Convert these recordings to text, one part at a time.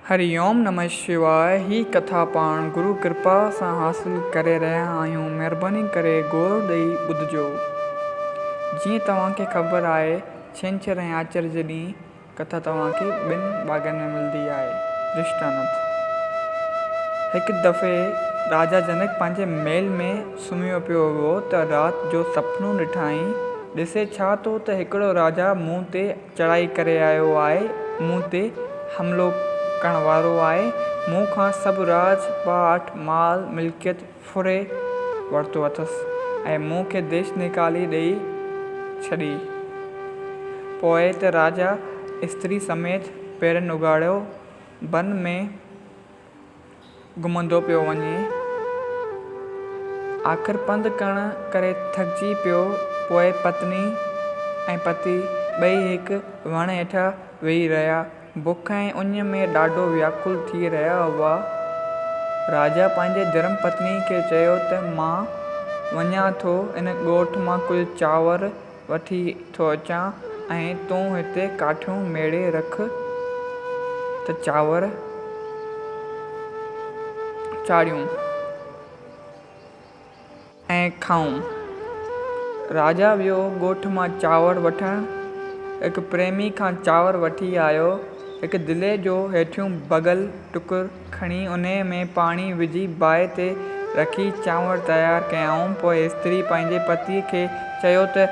هريوم نمه شواء هي ڪٿا پاڻ گرو ڪرپا سان حاصل ڪري رهيا آهيون مهرباني ڪري غور ڏئي ٻڌجو جيئن توهان کي خبر آهي ڇنڇر ۽ آچر جي ڏينهن ڪٿا توهان کي ٻن ڀاڳن ۾ ملندي آهي درشٽانت هڪ دفعي راجا جنڪ پنهنجي محل ۾ سمهيو پيو هو ته رات جو سپنو ڏٺائين ڏسي ڇا ٿو ته هڪڙو راجا منهن تي چڙهائي ڪري آيو آهي، مون تي حملو ڪرڻ وارو آهي، مون کان سڀ راڄ پاٽ، مال ملڪيت ڦري ورتو اٿس ۽ مون کي ديش نيڪالي ڏئي ڇڏي. پوء ته راجا استري سميت پيرن اگهاڙيو بن ۾ گهمندو پيو وڃي. آخر پنڌ ڪرڻ ڪري ٿڪجي پيو. پوء پتني ۽ پتي ٻئي هڪ وڻ هيٺ ويهي رهيا. بک ۽ اڃ ۾ ڏاڍو وياڪل ٿي رهيا هئا. راجا پنهنجي ڌرم پتني کي چيو ته مان وڃان ٿو ان ڳوٺ مان ڪجهه چانور، وٺي ٿو اچان ۽ تون هتي ڪاٺيون ميڙي رک ته چانور چاڙهيون ۽ کائون. راجا ويو ڳوٺ مان چانور وٺڻ. هڪ پريمي کان چانور وٺي آيو. هڪ دلي جو هيٺيون ڀڳل ٽڪر. کڻي انهيء ۾ پاڻي وجهي باهه تي رکي چانور تيار ڪيائون. پوء استري پنهنجي پتيء کي چيو ته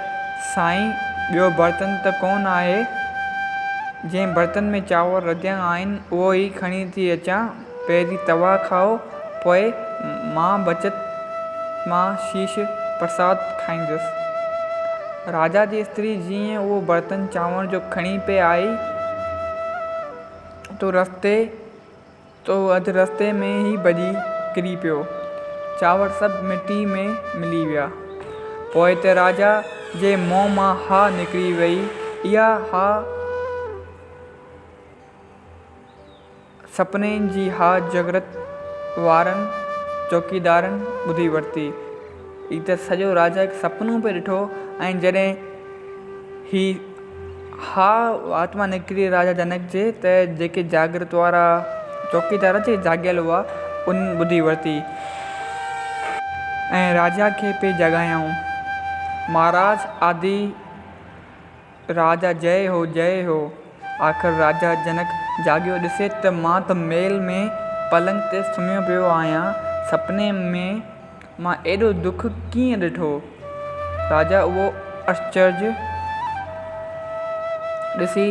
سائين ٻيو برتن ته ڪونه آهي؟ جنهن برتن ۾ چانور رڌيا آهن اهو ئي کڻي ٿي اچان. پهرين توهان کائو پوء مان بچت مان شيش پرساد کائيندس. راجا جي استري جيئن اهو برتن چانور جو کڻي پئي آئي، تو رستي تو اڌ رستي ۾ ئي ڀڄي ڪري پيو. چانور سڀ مٽي ۾ ملي ويا. پوء ته راجا جي منهن مان هاء نڪري وئي. اها هاء سپني جي هاء جاگرت وارن چوڪيدارن ٻڌي ورتي. هي ته سڄو راجا هڪ سپنو پئي ڏٺو ۽ جڏهن هي اها آتما نڪري راجا جنڪ جي ته جيڪي جاگرت وارا چوڪيدار جي جاڳيل هئا انهن ٻڌي ورتي ۽ راجا کي پئي جاڳايائون مهاراج آدي راجا جئه هو جئه هو. آخر راجا جنڪ جاڳيو ڏسي ته مان ته محل ۾ پلنگ تي سمهيو پيو آهيان. سپني ۾ مان ايڏو دک ڪيئن ڏٺو؟ راجا اهو اچرج ڏسي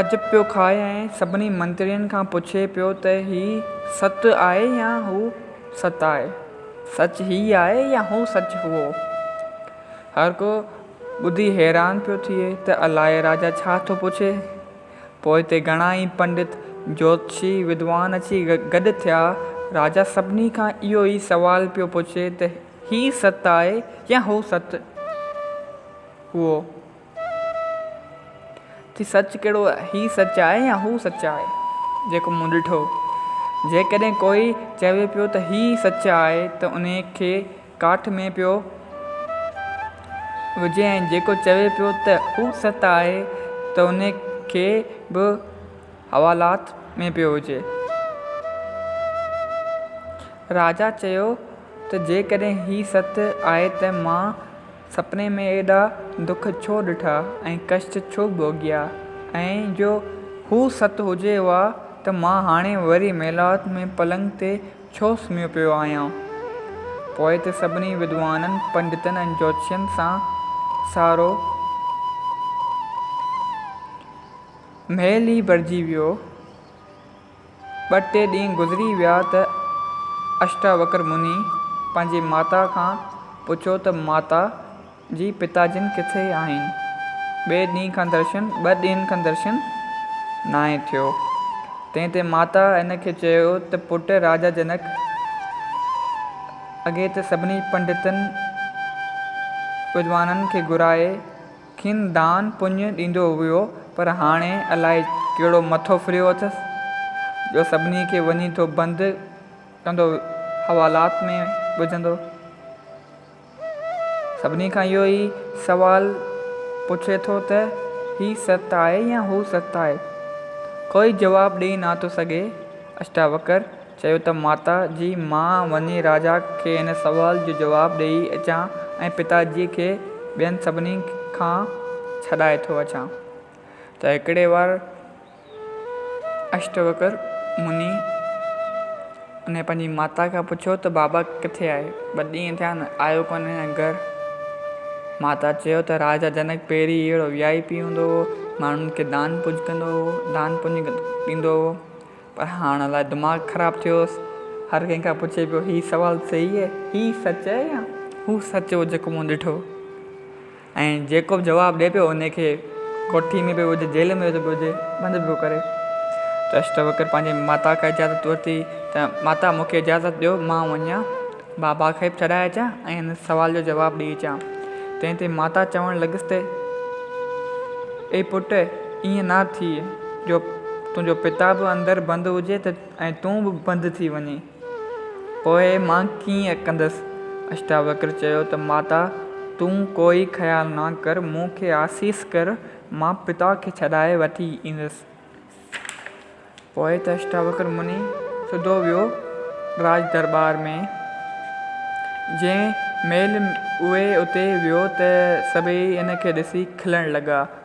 عجب پيو کائي ۽ سڀني منترين کان پڇي پيو ته هي ست آهي يا هو ست آهي؟ سچ هي آهي يا هو سچ هئو؟ هر ڪو ٻڌي حيران پيو ٿئي ته الاء راجا ڇا ٿو پڇي. پوء اتي گهڻا ئي پنڊت، جوتشي، ودوان اچي گڏ ٿيا. راجا سڀني کان اهو ئي سوال پيو پڇي ته هي ست آهي يا هو ست؟ هو ٿي سچ ڪهڙو آهي؟ هي سچ آهي يا هو سچ آهي جيڪو مون ڏٺو؟ جيڪڏهن ڪوئي چوي پيو ته هي سچ آهي ته انهيء کي ڪاٺ ۾ پيو وجهي ۽ جيڪو چوي پيو ته اهو ست آهي ته ان کي به حوالات ۾ پيو وجهي. راجا چيو ته جيڪڏهن هي ست آهي ته مان سپني ۾ ايڏا دک ڇو ڏٺا ۽ ڪشٽ ڇو ڀوڳيا ۽ جو هو ست هجي ها ته مان هاڻي وري محلات ۾ پلنگ تي ڇو سمهيو پيو آهيان؟ پوء ته سڀني ودوانن، پنڊتن ۽ جوتشين سان سارو مهل ئي ڀرجي ويو. ٻه ٽي ڏينهن گذري ويا ته اشٽاوڪر مني پنهنجي ماتا کان پڇيو ته ماتا! جي پتا جن ڪٿي آهين؟ ٻئي ڏينهن کان درشن ٻه ڏينهن کان درشن ناهي ٿيو. تنهن تي ماتا هن کي چيو ته پٽ راجا جنڪ اڳي ته سڀني پنڊتن ودوانن کي گهرائي کين دان پڃ ڏيندو هيو پر هاڻي الائي ڪهڙو مٿو ڦريو اٿس جو سڀني کي وڃي ٿو بند ڪندو حوالات ۾ وجهندو. سڀني کان اهو ئي سوال پڇي ٿو ته هي ست آهي يا هو ست آهي؟ ڪوئي جواب ڏئي ناٿو سگهي. اشٽاوڪر چيو ته ماتا جي مان وڃي راجا کي هن سوال جو جواب ڏئي اچان ۽ پتا جيء کي ٻين سڀني کان ڇڏائي ٿو اچان ته هڪڙي وار اشٽوڪر مني انهيء پنهنجي ماتا کان پڇيو ته بابا ڪٿي آهي؟ ٻه ڏينهن ٿيا آهن آيو ڪونهي هن گهر. ماتا چيو ته راجا جنڪ پهرين ئي اهڙو وي آء پي هوندو هو، ماڻهن کي دان پڃ ڪندو هو، دان پڃ ڏيندو هو، پر هاڻ الائي دماغ خراب ٿيو هوس، هر ڪنهن کان پڇي پيو هي سوال صحيح آهي؟ هي سچ آهي يا هو سچ هو جيڪو مون ڏٺو؟ ۽ جيڪو به جواب ڏئي پيو انهي کي ڪوٺي ۾ پيو وجهي جيل ۾ پيو وجهي بند پيو ڪري ته اشٽوڪر پنهنجي ماتا کان اجازت ورتي ته ماتا مون کي اجازت ڏيو مان وڃان بابا کي به چرائي اچان ۽ هن سوال جو جواب ڏئي اچان تنهن تي ماتا چوڻ لڳس ته اي پٽ ائين نه ٿئي جو تنهنجو پتا به اندر بند هجي ته ۽ تون به بند ٿي وڃين پوء مان ڪيئن ڪندس؟ اشٽاوڪر چيو ته ماتا تون ڪوئي خيال نه ڪر، مون کي آسيس ڪر، مان پتا کي ڇڏائي وٺي ايندس. پوء ته اشٽاوڪر مني سڌو ويو راڄ درٻار ۾. جنهن مهل اهي اتي ويو ته سڀئي ان کي ڏسي کلڻ لڳا.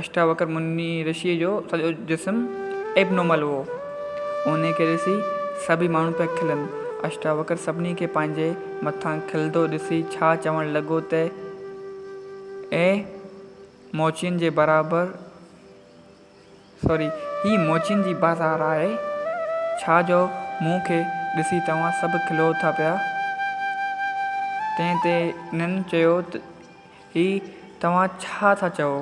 اشٽاوڪر مني رشيء جو سڄو جسم Abnormal هو. انهيء کي ڏسي سڀئي ماڻهو پيا کلن. اشٽاوڪر سڀني کي پنهنجي مٿان کلندو ڏسي ڇا چوڻ لڳو ته، اي موچين جي برابر Sorry، هي موچين جي بازار آهي، ڇا جو مون کي ڏسي توهان سڀ کلو ٿا پيا. تنهن تي انهن چيو ته، هي توهان ڇا ٿا چئو؟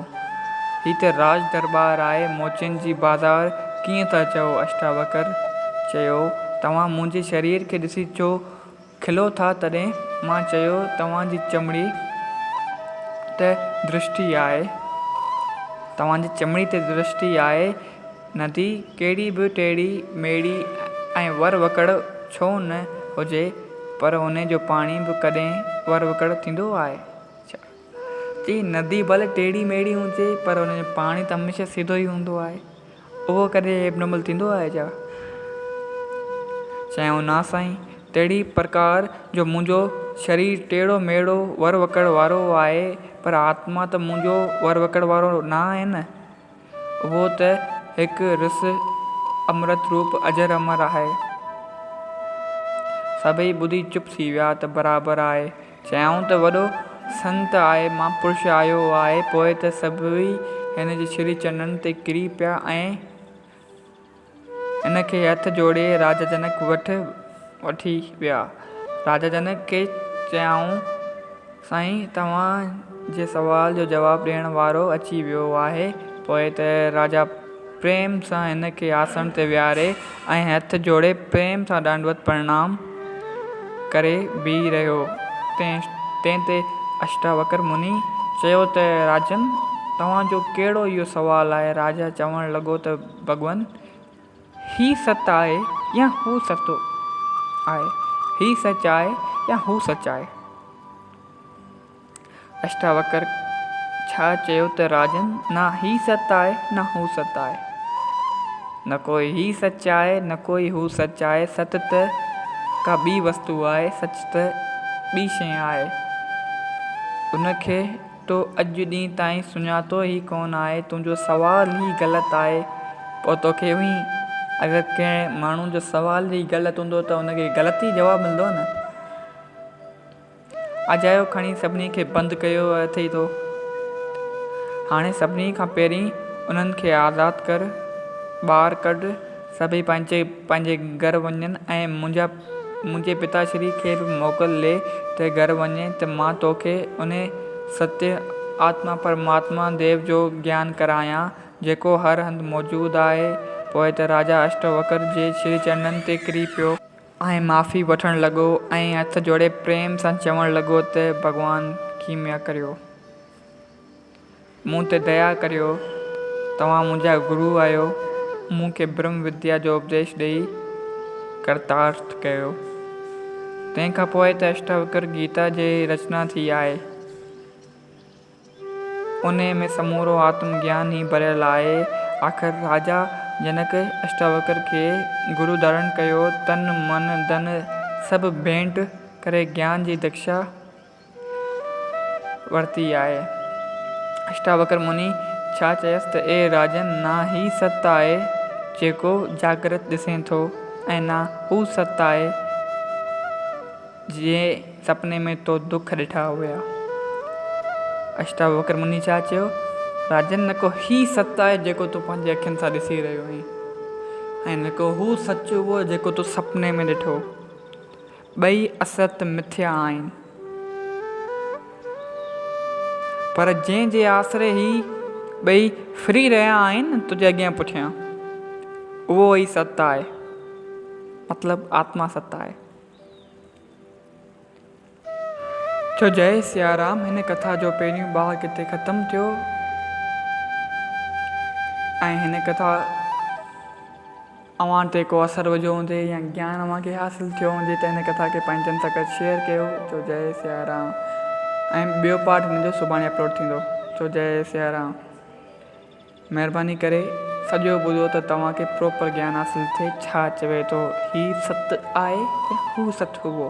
هي ته راج درٻار آهي، موچين جي بازار ڪيئن ٿا چئو؟ اشٽاوڪر چيو، توهان منهنجي شرير کي ڏسي ڇو کلو ٿا؟ تڏهن مان چيو، توهان جي چمڙي ته درشٽي آهي. توهان جي چمڙي ته درشٽي آهي، ندي ڪهڙي به ٽيڙي ميڙي ۽ ور وڪڙ ڇو نه هجي، پر ان جو پاڻي به ڪڏهن ور وڪڙ ٿيندو آهي؟ چي ندي ڀلي ٽيڙي ميڙي هجي پر ان جو پاڻي ته هميشه سڌو ئي هوندو آهي. اهو ڪڏهن ابنمل ٿيندو آهي ڇا؟ چيائون نا سائين، تهڙي پرڪار جو منهنجو شرير ٽيڙو ميڙو ور وڪڙ وارو آهي پر آتما ته منهنجو ور وڪڙ وارو نه آهي نه. اهو ته هڪ رس امرت روپ اجر امر آهي. سڀئي ٻڌي چپ ٿي ويا ته برابر آهي. چيائون ته وڏو سنت آهي، مهاپرش آيو آهي. پوء ته سڀئي هن جي شري چرنن تي ڪري پيا ۽. ان کي هٿ جوڙي راجا جنڪ وٽ وٺي ويا. راجا جنڪ کي چيائون، سائين توهان جي سوال جو جواب ڏيڻ وارو اچي ويو آهي. پوء ته راجا پريم سان هن کي آسڻ تي ويهاري ۽ هٿ جوڙي پريم سان ڏانڊوت پرڻام ڪري بيهي رهيو. تنهن تي اشٽاوڪر مني چيو ته راجن توهان جو ڪهڙو اهو سوال آهي؟ راجا چوڻ لڳو ته. ڀڳوان هي ست آهي يا هو ستو آهي، هي سچ آهي يا هو سچ آهي. اشٽاوڪر ڇا چيو ته راجن نه هي ست آهي نه هو ست آهي. نه ڪو هي سچ آهي نه ڪو هو سچ آهي. ست ته ڪا ٻي وستو آهي، سچ ته ٻي شيء آهي. ان کي تو اڄ ڏينهن تائين سڃاتو ئي ڪونه آهي، تنهنجو سوال ئي غلط آهي، پوء توکي وهين. اگر ڪنهن ماڻهو جو سوال ئي غلط هوندو ته ان کي غلط ئي جواب ملندو نه. اجايو کڻي سڀني کي بند ڪيو اٿئي تو. هاڻي سڀني کان پهرين انهن کي آزاد ڪر، ٻاهر ڪڍ. سڀئي پنهنجي پنهنجي گهر وڃن ۽ منهنجا منهنجي پتاشري کي به موڪل ڏي ته گهر وڃ ته مان توکي انهي ستيه آتما پرماتما ديو جو گيان ڪرايان جيڪو هر هنڌ موجود آهي پوء ته راجا اشٽوڪر جي شري چرنن تي ڪري پيو ۽ معافي وٺڻ لڳو ۽ هٿ جوڙي پريم سان چوڻ لڳو ته ڀڳوان ڪيميا ڪريو. مون تي ديا ڪريو، توهان منهنجا گرو آهيو، مون کي برهم وديا جو اپديش ڏئي ڪرتارٿ ڪيو. تنهن کان پوء ته اشٽاوڪر گيتا جي رچنا ٿي آهي. انهيء ۾ سمورو آتم گيان ئي ڀريل آهي. آخر راجا جنڪ اشٽاوڪر کي گرو ڌارڻ ڪيو، تن، من، ڌن سڀ ڀينٽ ڪري گيان جي ديکشا ورتي آهي. اشٽاوڪر مني ڇا چيس ته اي راجن نه هي ست آهي جيڪو جاگرت ڏسين ٿو ۽ نه هو ست آهي جنهن سپني ۾ تو دک ڏٺا هيا. اشٽاوڪر مني ڇا چيو؟ راجن نڪو هي ست آهي جيڪو تون پنهنجي اکين سان ڏسي رهيو آهين ۽ نڪو هو سچ هو جيڪو تو سپني ۾ ڏٺو. ٻئي اسرت مٿيا آهن. پر جنهن جي آسري هي ٻئي ڦري رهيا آهن تنهنجي اڳيان پٺيان، اهو ئي ست آهي، مطلب آتما ست آهي. جو جئي سيارام هن ڪٿا جو پهريون ٻاهه ڪٿي ختم ٿيو ۽ هن ڪٿا. اوهان تي ڪو اثر وجهيو هوندي يا گيان اوهان کي حاصل ٿيو هوندي ته هن ڪٿا کي پنهنجن سان گڏ شيئر ڪيو چو جئي سياه رام ۽ ٻيو پارٽ هن جو سڀاڻي اپلوڊ ٿيندو چو جئي سياه رام مهرباني ڪري سڄو ٻڌو ته توهان کي پروپر گيان حاصل ٿئي ڇا چوي ٿو هي ست آهي يا هو ست هئو.